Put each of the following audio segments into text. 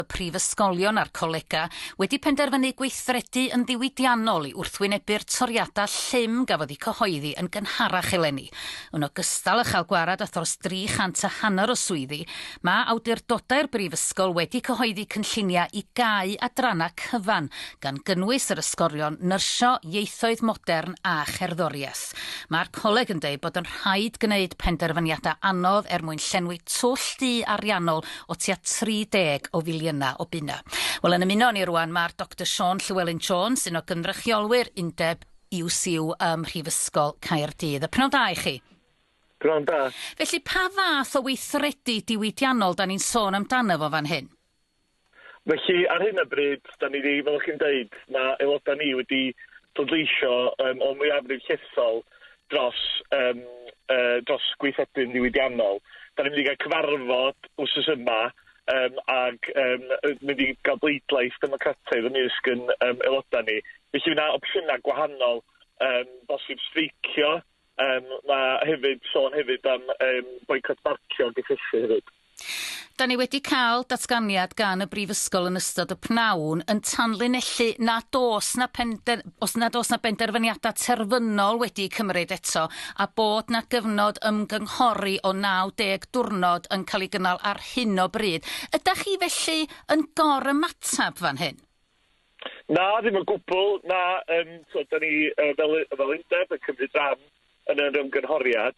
y prifysgolion a'r colegau wedi penderfynu gweithredu yn ddiwydiannol i wrthwynebu'r toriadau llym gafodd eu cyhoeddi yn gynharach eleni. Yn ogystal â chael gwared at dros 300 a hanner o swyddi, mae awdurdodau'r brifysgol wedi cyhoeddi cynlluniau i gau adrannau cyfan, gan gynnwys yr ysgolion Nyrsio, Ieithoedd Modern a Cherddoriaeth. Mae'r coleg yn dweud bod yn rhaid gwneud penderfyniadau anodd er mwyn llenwi twll du ariannol o tua 30 o filiynau o bunnau. Wel, yn ymuno â ni rŵan, mae'r Doctor Siân Llewelyn Jones, un o gynrychiolwyr undeb UCU ym Mhrifysgol Caerdydd. Y pnawn da i chi. Pnawn da. Felly, pa fath o weithredu diwydiannol da ni'n sôn amdano fo fan hyn? Felly, ar hyn o bryd, da ni wedi, fel chi'n dweud, mae aelodau ni wedi pleidleisio um, o mwyafrif llesol dros um, uh, dros gweithredu'n ddiwydiannol. Da ni'n mynd i gael cyfarfod wrth yma um, ag um, mynd i gael bleidlais democrataidd ymysg yn um, aelodau ni. Felly fyna opsiynau gwahanol, um, bosib streicio, um, mae hefyd sôn hefyd am um, boicot barcio gysylltu hefyd. Da ni wedi cael datganiad gan y Brifysgol yn ystod y pnawn yn tanlinellu nad oes na, pender, os nad oes na benderfyniadau terfynol wedi cymryd eto a bod na gyfnod ymgynghori o 90 diwrnod yn cael ei gynnal ar hyn o bryd. Ydych chi felly yn gor ymateb fan hyn? Na, ddim o gwbl. Na, um, so, da ni uh, fel, fel undeb yn cymryd rhan yn yr ymgynghoriad.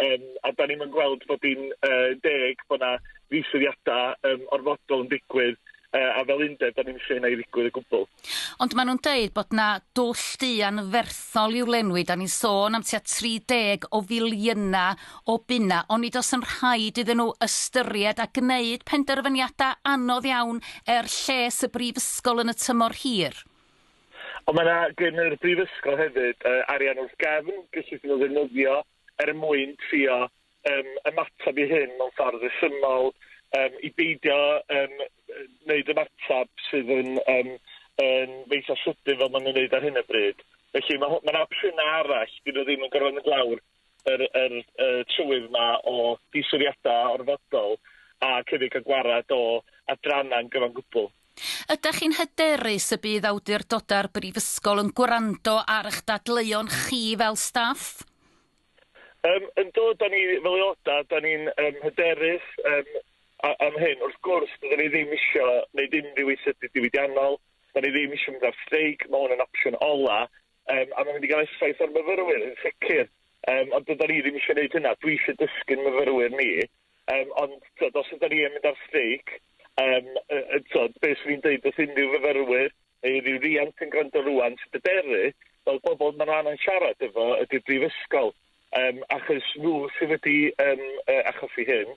Yym, a 'dan ni'm yn gweld bod hi'n yy deg bod 'na ddiswyddiada yym orfodol yn digwydd, yy a fel undeb 'dan ni'm isio hynna i ddigwydd o gwbwl. Ond ma' nhw'n deud bod 'na dwll du anferthol i'w lenwi, 'dan ni'n sôn am tua 30 o filiyna o bunna, onid oes yn rhaid iddyn nhw ystyried a gneud penderfyniada anodd iawn er lles y brifysgol yn y tymor hir? Ond mae 'na gyn yr brifysgol hefyd yy arian wrth gefn gellid nhw ddefnyddio er mwyn trio yym ymateb i hyn mewn ffordd rhesymol yym i beidio yym yy neud ymateb sydd yn yym yn eitha' sydyn fel ma' nhw'n neud ar hyn o bryd. Felly ma' ho- ma' 'na opsiyna arall, 'dyn nhw ddim yn gorfod mynd lawr yr yr y trywydd 'ma o ddiswriada orfodol ac hefyd ca'l gwared o adranna'n gyfan gwbwl. Ydach chi'n hyderus y bydd awdurdoda'r Brifysgol yn gwrando ar ych dadleuon chi fel staff? Yym yndw, 'dan ni fel aeloda', 'dan ni'n yym hyderus yym a- am hyn. Wrth gwrs, dydan ni ddim isio neud unrhyw weithredu diwydiannol, 'dan ni ddim isio mynd ar streic, ma' hwn yn opsiwn ola, Yym, a mae'n mynd i gael effaith ar myfyrwyr, yn sicr. Yym, ond dydan ni ddim eisiau gwneud hynna. Dwi eisiau dysgu'n myfyrwyr ni. Yym, ond, tywed, os ydan ni yn mynd ar streic, yym, yy, yy, tywed, be' swn i'n deud wrth unrhyw fyfyrwyr, neu unrhyw riant sy'n gwrando rŵan, sy'n bryderu, wel, bobol ma' nw angen siarad efo ydi'r brifysgol, yym, achos nw sy wedi, yym, yy, achosi hyn.